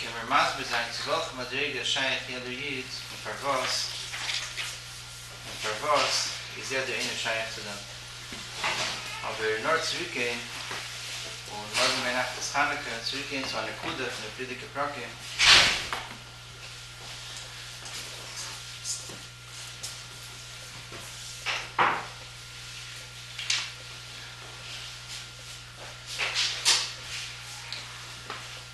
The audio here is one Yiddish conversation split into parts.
קען מיר מסביר זיין צו וועלכע מדריגה איז שייך יעדער איד און פארוואס און פארוואס איז יעדער איינער שייך צו דעם? אבער נאר צוריקגיין און מארגן ביינאכט איז חנוכה, צוריקגיין צו א נקודה פון די פרידיגע פרקים.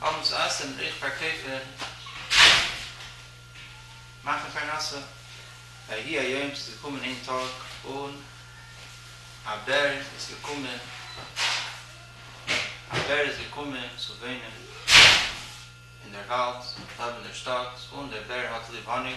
האבן צו עסען איך פארקויף און מאכן פרנסה ויהי היום ס'איז געקומען איין טאג און א בער איז געקומען א בער איז געקומען צו וואינען אין דער וואלד לעבן דער שטאט און דער בער האט ליב האניג.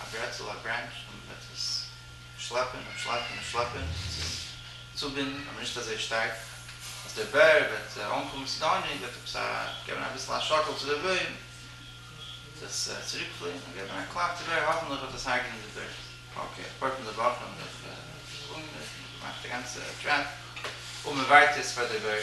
א ברעטל א ברענטש און עפעס שלעפען און שלעפען און שלעפען צו צובינדען אבער נישט אזוי שטארק אז דער בער וועט אנקומען צו די ענין וועט עפעס א געבען אביסל א שאקעל צו דער בוים וועט עס צוריק פליען און געבען א קלאפ צו בער האפענליך וועט עס הרג'נען די בער. אקעי א פאר פון די וואכען האב איך אנגעמערקט און געמאכט א גאנצע טרעפ אבער מען ווארט יעצט פאר דער בער.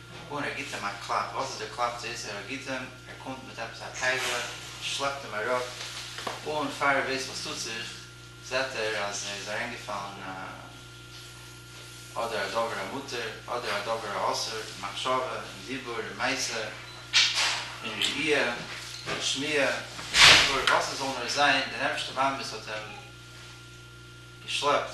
און ער גיט אים א קלאפ, וואס איז די קלאפ צו איסר הגיטין, ער קומט מיט עפעס א קייגעלע, שלעפט אים אראפ, און פאר ער ווייסט וואס טוט זיך, זעט ער אז ער איז אריינגעפאלן א אדער א דבר המותר, אדער א דבר האסור, אין מחשבה, אין דיבור, אין מעשה, אין ראייה, אין שמיעה, אין דיבור, וואס עס זאל נאר זיין, דער אייבערשטער באמת האט אים געשלעפט,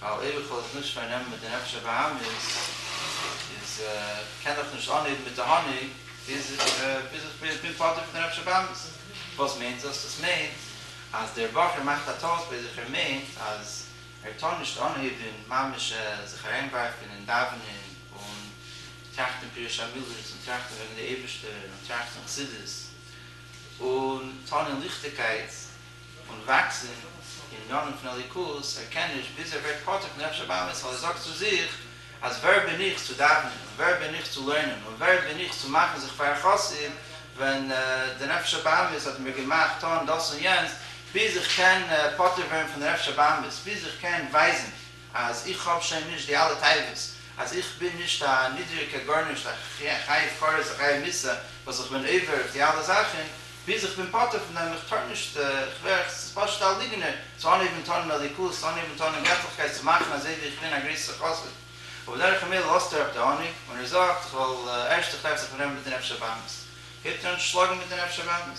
ווייל אויב איך וועל דאס נישט פארנעמען מיט די נפש הבהמית, איז קען איך נישט אנהייבן מיט תענוג ביז איך בין פטור פון די נפש הבהמית. וואס מיינט דאס? דאס מיינט אז דער בחור מאכט א טעות ביי זיך, ער מיינט אז ער טאר נישט אנהייבן ממש זיך אריינווארפן אין דאווענען און טראכטן פירוש המילות און טראכטן וועגן די אייבערשטער און טראכטן חסידות און טון אין ליכטיגקייט, און וואקסן אין יארן פון אליקות ערקענעניש ביז ער ווערט פותח נפש הבאמת ווייל ער זאגט צו זיך אז ווער בין איך צו דאווענען און ווער בין איך צו לערנען און ווער בין איך צו מאכן זיך פאר א חסיד ווען די נפש הבאמת האט מיר געמאכט טון דאס און יענץ ביז איך קען פטור ווערן פון די נפש הבאמת ביז איך קען ווייזן אז איך האב שוין נישט די אלע טייוועס, אז איך בין נישט א נידריגער גארנישט, א חייב כרת א חייב מצוה, וואס איך בין עובר אויף די אלע זאכען, ביז איך בין פטור פון דעם, איך טאר נישט, איך ווער, עס איז פשוט א ליגנער, צו אנהייבען טאן אין אליקות, צו אנהייבען טאן אין געטליכקייט, צו מאכען אזוי ווי איך בין א גרעסער חסיד, ובדרך המילא לאזט ער אפ די עונג, און ער זאגט, איך וועל, ערשט איך טרעף זיך מיט דעם מיט די נפש הבהמית, הייבט ער אן צו שלאגען מיט די נפש הבהמית.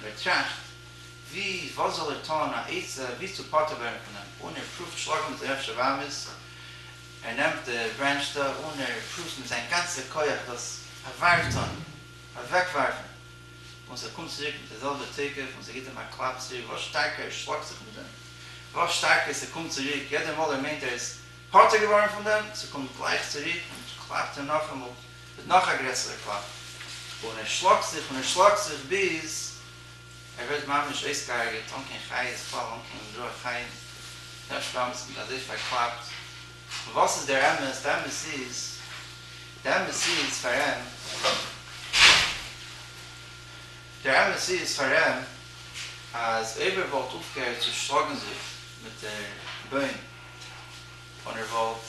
און ער טראכט ווי וואס זאל ער טון א עצה ווי צו פטור ווערן פון אים, און ער פרואווט שלאגן מיט זיין אפשר ווארמערס, ער נעמט די ברענטש דא און ער פרואווט מיט זיין גאנצע כח דאס אוועק טון, אוועק ווארפן, און ס'קומט צוריק מיט די זעלבע תוקף און ס'גיט אים א קלאפ צוריק, וואס שטארקער ער שלאגט זיך מיט דעם, וואס שטארקער ס'קומט צוריק, יעדע מאל ער מיינט ער איז פטור געווארן פון דעם, ס'קומט גלייך צוריק און קלאפט אים נאכאמאל. מיט נאך א גרעסערע קלאפ, און ער שלאגט זיך און ער שלאגט זיך ביז ער ווערט ממש אויסגעהארגעט אן קיין חיות, בכלל אן קיין רוח חיים, דער שטאמפס מיט אזוי פארקלאפט, און וואס איז דער אמת? די אמת איז, די אמת איז פאר אים, דער אמת איז פאר אים אז אויב ער וואלט אויפגעהערט צו שלאגן זיך מיט דער בוים און ער וואלט.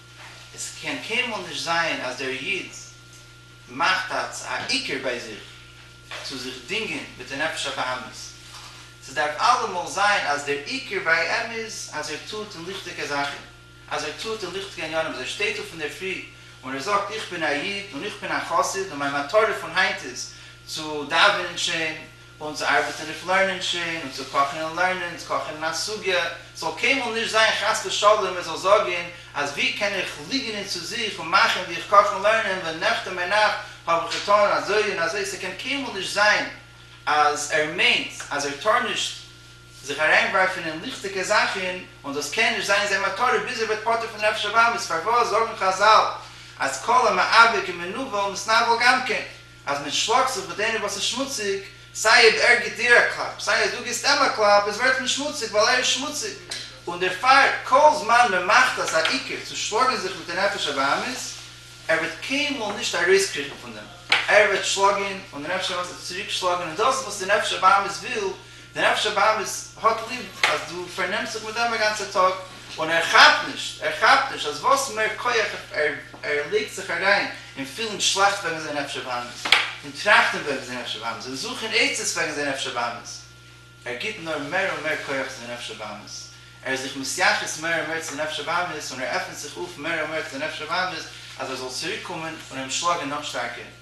עס קען קיינמאל נישט זיין אז דער איד מאכט א עיקר ביי זיך צו זיך דינגען מיט די נפש הבהמית, ס'דארף אלעמאל זיין אז דער עיקר ביי אים איז אז ער טוט אין ליכטיגע זאכן, אז ער טוט אין ליכטיגע עניינים, אז ער שטייט אויף אינדערפרי און ער זאגט איך בין א איד און איך בין א חסיד און מיין מטרה פון היינט איז צו דאווענען שיין און צו ארבעטן אויף לערנען שיין, און צו קאכן און לערנען צו קאכן אין א סוגיא, ס'זאל קיינמאל נישט זיין חס ושלום ער זאל זאגן אז ווי קען איך ליגענען צו זיך און מאכן ווי איך קאך און לערנען ווען נעכט און ביינאכט האב איך געטאן אזוי און אזוי, ס'קען קיינמאל נישט זיין אז ער מיינט אז ער טאר נישט זיך אריינווארפן אין ליכטיגע זאכן, און דאס קען נישט זיין זיין מטרה ביז ער ווערט פטור פון נפש הבהמית, פארוואס זאגן חזל אז כל המאבק ומנוול מסנוול גם כן? אז מען שלאגט זיך מיט איינער וואס איז שמוציג, סיי אויב ער גיט דיר א קלאפ, סיי אז דו גיסט אים א קלאפ, עס ווערט מען שמוציג ווייל ער איז שמוציג, און דערפאר כל זמן מען מאכט אזא עיקר צו שלאגן זיך מיט א נפש הבהמית, ער וועט קיינמאל נישט ארויסקריכן פון דעם, ער וועט שלאגן און די נפש הבהמית וועט צוריק שלאגן, און דאס איז וואס די נפש הבהמית וויל, דער אפשער באמעס האט ליב אז דו פארנעמסט זיך מיט אים א גאנצער טאג, און ער כאפט נישט, ער כאפט נישט אז וואס מער כח ער לייגט זיך אריין אין פילן שלעכט וועגן זיין אפשער באמעס, אין טראכטן וועגן זיין אפשער באמעס, אין זוכן עצות וועגן זיין אפשער באמעס, ער גיט נאר מער און מער כח צו זיין אפשער באמעס, ער איז זיך מתייחס מער און מער צו זיין אפשער באמעס, און ער עפנט זיך אויף מער און מער צו זיין אפשער באמעס אז ער זאל צוריקקומען און אים שלאגן נאך שטארקער.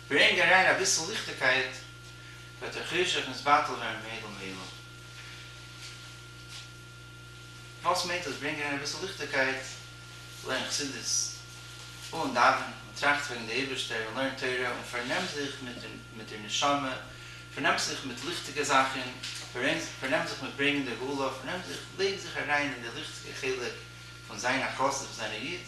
ברענג אריין אביסל ליכטיגקייט וועט דער חושך נתבטל ווערן מאידל מאידל. וואס מיינט דאס ברענג אריין אביסל ליכטיגקייט? לערן חסידות אן דאווענען און טראכט וועגן די אייבערשטער און לערן תורה און פארנעם זיך מיט דער נשמה, פארנעם זיך מיט ליכטיגע זאכן, פארנעם זיך מיט ברענגן די גאולה, פארנעם זיך, לייג זיך אריין אין די ליכטיגע חלק. פון זיין א חסיד פון זיין א איד,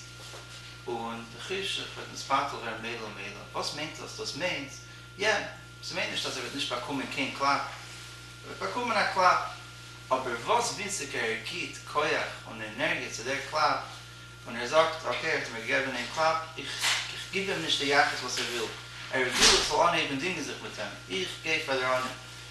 און די חשק וועט נתבטל ווערן מילא ומילא. וואס מיינט דאס? דאס מיינט, יע, ס'מיינט נישט אז ער וועט נישט באקומען קיין קלאפ, ער וועט באקומען א קלאפ, אבער וואס וויסיקער ער גיט כח און ענערגיע צו דער קלאפ, און ער זאגט, אקעי, ער האט מיר געגעבען איין קלאפ, איך גיב אים נישט די יחס וואס ער וויל, ער וויל איך זאל אנהייבען דינגען זיך מיט אים, איך גיי פאר דער ענין.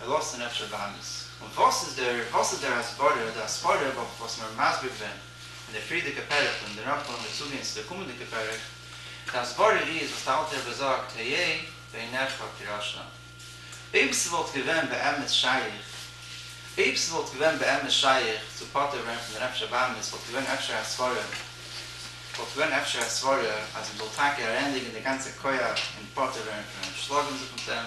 ער לאזט זיין אפשר באמעס. און וואס איז דער וואס איז דער הסברה, די הסברה אויף וואס מ'האט מסביר געווען אין די פריערדיגע פרק און דערנאך וועלן מיר צוגיין צו די קומענדיגע פרק, די הסברה איז וואס די אלטע רבי זאגט היה בעיניך כראשון. אויב ס'וואלט געווען באמת שייך, אויב ס'וואלט געווען באמת שייך צו פטור ווערן פון די נפש הבאמית וואלט געווען אפשר א סברה, וואלט געווען אפשר א סברה אז מ'זאל טאקע אריינלייגן די גאנצע כח אין פטור ווערן פון אים, שלאגן זיך מיט אים,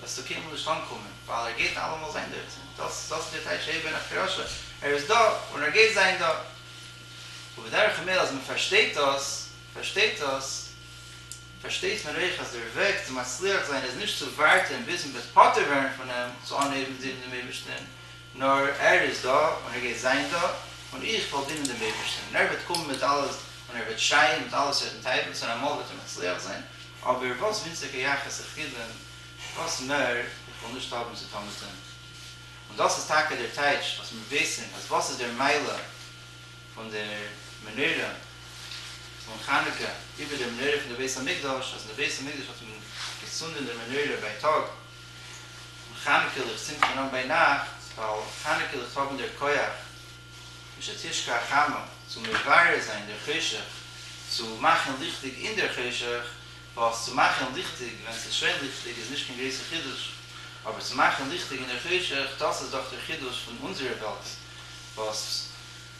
וועסטו קיינמאל נישט אנקומען, ווייל ער גייט אלעמאל זיין דארט, און דאס זאלסטו דיר טייטש הער בן אחקרשה, ער איז דא און ער גייט זיין דא. ובדרך המילא אז מען פארשטייט דאס, פארשטייט דאס, פארשטייט מען אויך אז דער וועג צו מצליח זיין איז נישט צו ווארטען ביז מען וועט פטור ווערן פון אים, צו אנהייבן דינען דעם אייבערשטען, נאר ער איז דא און ער גייט זיין דא, און איך וועל דינען דעם אייבערשטען, און ער וועט קומען מיט אלע און ער וועט שייען מיט אלע סארטן תאוות, און אמאל וועט ער מצליח זיין, אבער וואס ווינציגער יחס איך גיב אים, וואס מער איך וועל נישט האבן צו טון מיט אים. און דאס איז טאקע דער טייטש וואס מיר וויסן אז וואס איז דער מעלה פון דער מנורה פון חנוכה איבער דער מנורה פון דער בית המקדש, אז אין דער בית המקדש האט מען געצונדען דער מנורה בייטאג, און חנוכה ליכט צינדט מען אן ביינאכט, ווייל חנוכה ליכט האבן דער כח, משא כ תשכ א חמה, צו מברר זיין דער חושך, צו מאכן ליכטיג אין דער חושך, ווייל עס צו מאכן ליכטיג ווען עס איז שוין ליכטיג איז נישט קיין גרויסע חידוש, אבער צו מאכן ליכטיג אין דער חושך, דאס איז דאך דער חידוש פון אונזערע וועלט, וואס.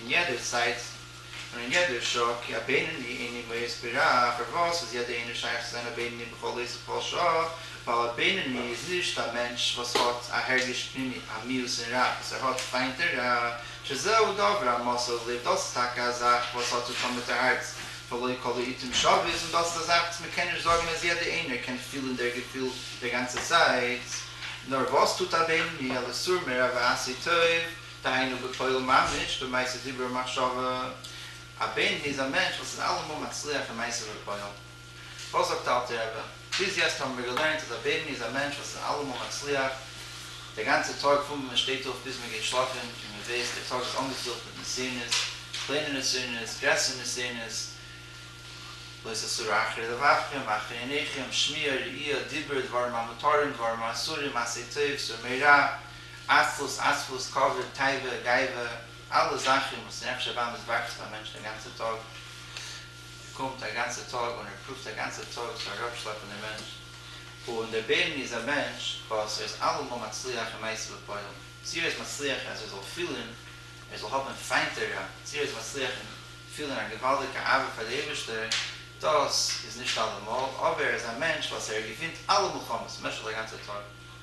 אין יעדער צייט און אין יעדער שעה, כי הבינוני איני מואס ברע, פארוואס איז יעדער איינער שייך צו זיין א בינוני בכל עת ובכל שעה, ווייל א בינוני איז נישט א מענטש וואס האט א הרגש פנימי א מיאוס אין רע וואס ער האט פיינט אין רע, שזהו דבר המסור ללב דאס איז טאקע א זאך וואס האט צוטון מיט די הארץ, ולא כל העיתים שווית, און דאס איז א זאך וואס מען קען נישט זאגן אז יעדער איינער קען פילען דער געפיל דער גאנצע צייט, נאר וואס טוט א בינוני על איסור מרע ועשה טוב, דהיינו בפועל ממש, במעשה דיבור ומחשבה, א בן איז א מענטש וואס איז אלעמאל מצליח אין מעשה ובפועל. וואס זאגט אלטער רבי? ביז יעצט האבן מיר געלערנט אז א בן איז א מענטש וואס איז אלעמאל מצליח, דער גאנצער טאג פון ווען מען שטייט אויף ביז מען גייט שלאפן, און מען ווייסט דער טאג איז אנגעפילט מיט נסיונות, קליינע נסיונות, גרעסערע נסיונות, לא תסור אחרי לבבכם, אחרי עיניכם, שמיעה, ראייה, דיבור, דברים המותרים, דברים האסורים, מעשי טוב, סור מרע, עצלות, אספות, כבוד, תאווה, גאווה, אלע זאכן וואס אין נפש הבאמית וואקסט ביים מענטשן א גאנצע טאג, ער קומט א גאנצע טאג און ער פרואווט א גאנצע טאג צו אראפשלעפן דעם מענטש, און דער בערני איז א מענטש וואס ער איז אלעמאל מצליח אין מעשה ופועל, צו ער איז מצליח אז ער זאל פילען ער זאל האבן פיינט תורה, צו ער איז מצליח אין פילען א געוואלדיגע אהבה פאר די אייבערשטער, דאס איז נישט אלעמאל, אבער ער איז א מענטש וואס ער געווינט אלע מלחמות במשך די גאנצע טאג.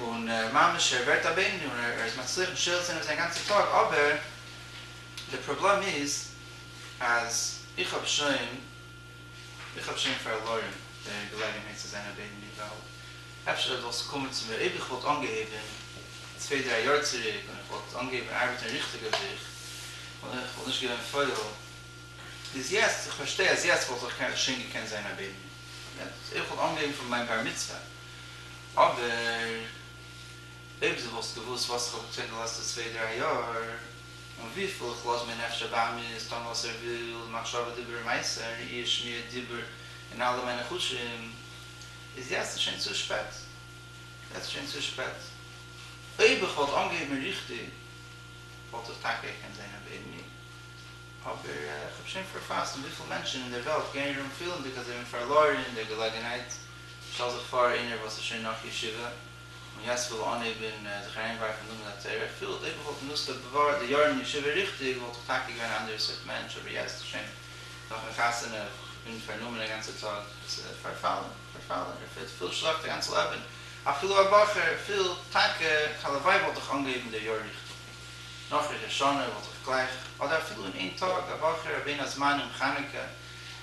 און ממש ער ווערט א בינוני און ער איז מצליח משער זיין אויף זיין גאנצע טאג אבער די פראבלעם איז אז איך האב שוין איך האב שוין פארלוירן די געלעגענהייט צו זיין א בינוני ווייל אפשר זאל עס קומען צו מיר אויב איך וואלט אנגעהויבן צוויי דריי יאר צוריק און איך וואלט אנגעהויבן ארבעטן ריכטיג אויף זיך און איך וואלט נישט געווען פויל ביז יעצט איך פארשטיי אז יעצט וואלט איך שוין געקענט זיין א בינוני אויב איך וואלט אנגעהויבן פון מיין בר מצוה אבער אויב דו וואלסט געוואוסט וואס איך האב געטון די לעצטע צוויי דריי יאר, און וויפיל איך לאז מיר נפש הבאמת טון וואס ער וויל, מחשבה דיבור ומעשה, ראי' שמיעה דיבור און אלע מיינע חושים, איז יעצט שוין צו שפעט, יעצט שוין צו שפעט. אויב איך וואלט אנגעהויבן ריכטיג וואלט איך טאקע געקענט זען רבי עירני, אבער איך האב שוין פארפאסט, און וויפיל מענטשן אין דער וועלט גייען ארום פילנדיג אז זיי האבן פארלוירן די געלעגנהייט. שטעל זיך פאר איינער וואס איז שוין נאך ישיבה און יעצט וויל אנהייבן זיך אריינווארפן אין לימוד התורה, ער פילט אויב איך וואלט גענוצט די בעבר די יארן ישיבה ריכטיג וואלט איך טאקע געווען א אנדערע סארט מענטש, אבער יעצט איז שוין נאכן חתונה, איך בין פארנומען א גאנצע טאג, עס איז פארפאלן, פארפאלן, ער פילט פול שלעכט א גאנץ לעבן, אפילו א בחור פילט טאקע הלוואי וואלט איך אנגעהויבן די יאר ריכטיג, נאך ראש השנה וואלט איך גלייך, אדער אפילו אין איין טאג, א בחור א בין הזמנים חנוכה,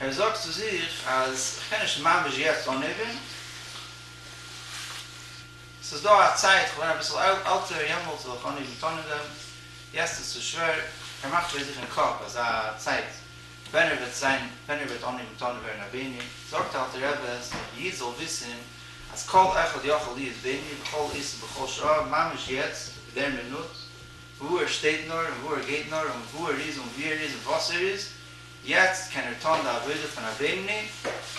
ער זאגט צו זיך אז כ'קען נישט ממש יעצט אנהייבן, ס'איז דא א צייט, כ'בין אביסל עלטער, יעמאלטס וועל איך אנהייבן טון אין דעם, יעצט איז צו שווער. ער מאכט ביי זיך אין קאפ אזא צייט ווען ער וועט זיין, ווען ער וועט אנהייבן טון און ווערן א בעני. זאגט די אלטע רבי אז דער איד זאל וויסן אז כל אחד יכול להיות בעני בכל עת ובכל שעה, ממש יעצט, אין דער מינוט, וואו ער שטייט נאר און וואו ער גייט נאר און וואו ער איז און ווי ער איז און וואס ער איז, יעצט קען ער טון די עבודה פון א בינוני,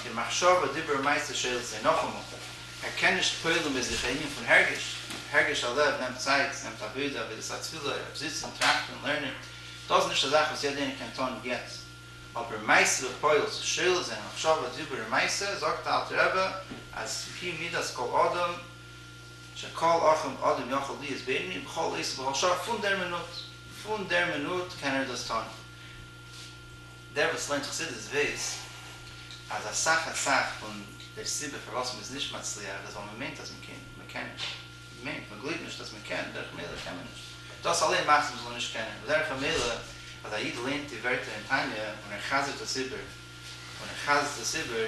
די מחשבה דיבור מעשה שליט זיי נאכאמאל, ער קען נישט פועל'ן ביי זיך א ענין פון הרגש, הרגש הלב נעמט צייט, ס'נעמט עבודה, עבודת התפילה, ער דארף זיצן, טראכטן, לערנען, דאס איז נישט א זאך וואס יעדער איינער קען טון יעצט, אבער מעשה ופועל ס'איז שליט זיי מחשבה דיבור ומעשה, זאגט די אלטע רבי אז היא מידת כל אדם שכל אחים אדם יכול להיות בינוני בכל עת ובכל שעה, פון דער מינוט, פון דער מינוט קען ער דאס טון. דער וואס לערנט חסידות וויס אז אסאך אסאך פון די סיבה פארוואס מ'איז נישט מצליח איז ווייל מ'מיינט אז מ'קען, מ'קען נישט, מ'מיינט, מ'גלויבט נישט אז מ'קען, דרך ממילא קען מען נישט, דאס אליין מאכט אז מ'זאל נישט קענען, בדרך המילא אז א איד לערנט די ווערטער אין תניא און ער חזר'ט עס איבער און ער חזר'ט עס איבער,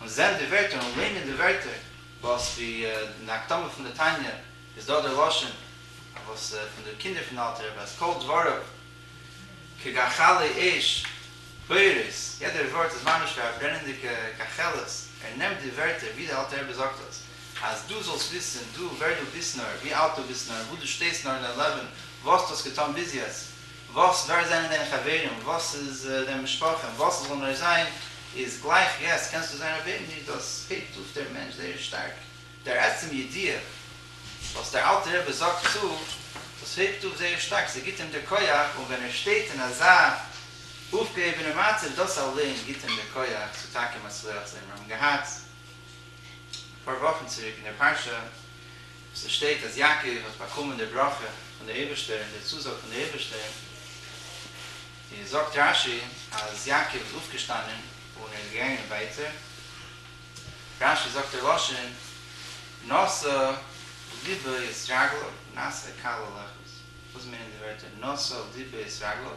און זען די ווערטער און לערנען די ווערטער, וואס ווי אין די הקדמה פון די תניא איז דא דער לשון וואס פון די קינדער פון די אלטע רבי אז כל דבריו כגחלי אש פורס, יעדער ווארט איז ממש ווי א ברענענדיגע קאכעלעס, ער נעמט די ווערטער ווי די אלטע רבי זאגט עס, אז דו זאלסט וויסן דו ווער דו ביסט נאר, ווי אלט דו ביסט נאר, וואו דו שטייסט נאר אין דיין לעבן, וואס דו האסט געטון ביז יעצט, וואס, ווער זענען דיינע חברים, וואס איז דיין משפחה, און וואס עס זאל נאר זיין, איז גלייך יעצט קענסטו זיין א בעיב נישט, דאס הייבט אויף דער מענטש זייער שטארק, דער עצם ידיעה וואס דער אלטער רבי זאגט צו, דאס הייבט אויף זייער שטארק, ס'גיט אים דער כח, און ווען ער שטייט אין אזא אויפגעהויבענע מצב, דאס אליין גיט אים דער כח צו טאקע מצליח זיין, מיר האבן געהאט אפאר וואכן צוריק אין דער פרשה, וואס עס שטייט אז יעקב האט באקומען די ברכה פון די אייבערשטער און די צוזאג פון די אייבערשטער, איז זאגט רש י אז יעקב איז אויפגעשטאנען און ער איז געגאנגען ווייטער, רש י זאגט די לשון נשא לבו את רגליו נשא קל ללכת, וואס מיינען די ווערטער נשא לבו את רגליו?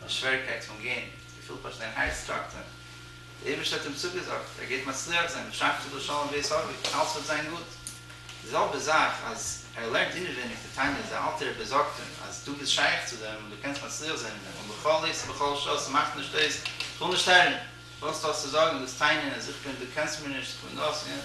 נאר שוועריקייט פון גיין, געפילט פשוט אין הארץ טראכטען, דער אייבערשטער האט אים צוגעזאגט ער גייט מצליח זיין בשחרית ובשלום בית אבי, אלס וועט זיין גוט, די זעלבע זאך אז ער לערנט אינעווייניג די תניא, זיין אלטער רבי זאגט אים אז דו ביסט שייך צו דעם און דו קענסט מצליח זיין אין דעם, און בכל עת ובכל שעה, ס'מאכט נישט אויס, כ'וויל נישט הערן, וואס דו האסט צו זאגן, דאס תניא, אז איך בין, דו קענסט מיר נישט, כ'בין דאס, יענץ.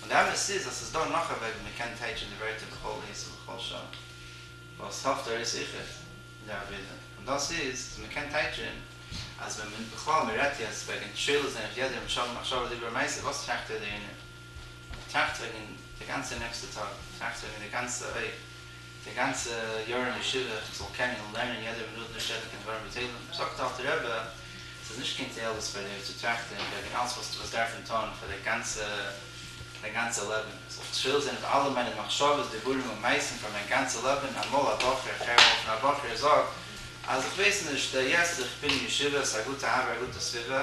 און די אמת איז אז ס'איז דא נאך א וועג ווי מ'קען טייטשען די ווערטער בכל עת ובכל שעה וואס האפט ער איז היכף די עבירה, און דאס איז אז מ'קען טייטשען אז ווען מען בכלל מ'רעדט יעצט וועגען תפילות און איך יעדער משל מחשבה דיבור מעשה וואס טראכט ער דערינען? טראכט וועגען די גאנצע נעקסטע טאג, טראכט וועגען די גאנצע אויך די גאנצע יאר אין ישיבה, איך זאל קענען און לערנען יעדער מינוט נישט רעדן קיין דברים בטלים, זאגט די אלטער רבי, ס'איז נישט קיין תועלת פאר דיר צו טראכטען וועגען אלץ וואס דו וועסט דארפען טון פאר די גאנצע דיין גאנצע לעבען, איך זאל טפל זיין אויף אלע מיינע מחשבות דיבורים און מעשים פאר מיין גאנצע לעבען, אמאל א בחור, איך הער אמאל פון א בחור ער זאגט אז איך ווייס נישט, דער יעצט איך בין אין ישיבה, ס'איז א גוטע האווער א גוטע סביבה,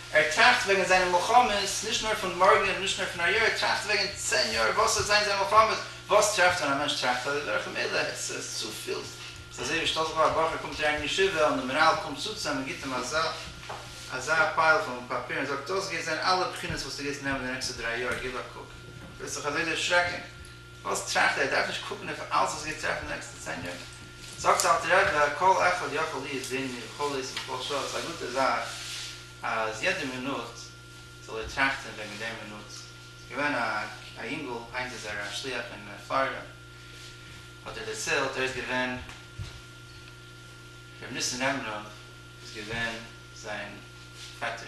ער טראכט וועגן זיינע מלחמות, נישט נאר פון מארגן און נישט נאר פון היי יאר, ער טראכט וועגן צען יאר וואס וועט זיין זיין מלחמות, וואס טרעפט ווען א מענטש טראכט אזוי דורך, מילא עס איז צופיל, ס'איז אזוי ווי שטעל זיך פאר א בחור קומט אריין אין ישיבה און די מנהל קומט צו צו אים און גיבט אים אזא אזא פייל פון פאפיר און זאגט דאס גייט זיין אלע בחינות וואס דו גייסט נעמען די נעקסטע דריי יאר גיב א קוק, וועסט זיך אזוי דערשרעקן. וואס טראכט ער? ער דארף נישט קוקן אויף אלס וואס גייט טרעפן די נעקסטע צען יאר? זאגט אלטר רבי כל אחד יכול להיות בין מיר חלוץ בכל שעה, ס'איז א גוטע זאך אז יעדע מינוט זאל ער טראכטן וועגן דער מינוט. ס'איז געווען א יונגל, היינט איז ער א שליח אין פלארידע, האט ער דערציילט, ער איז געווען, ר' ניסן ראמנוב איז געווען זיין פעטער,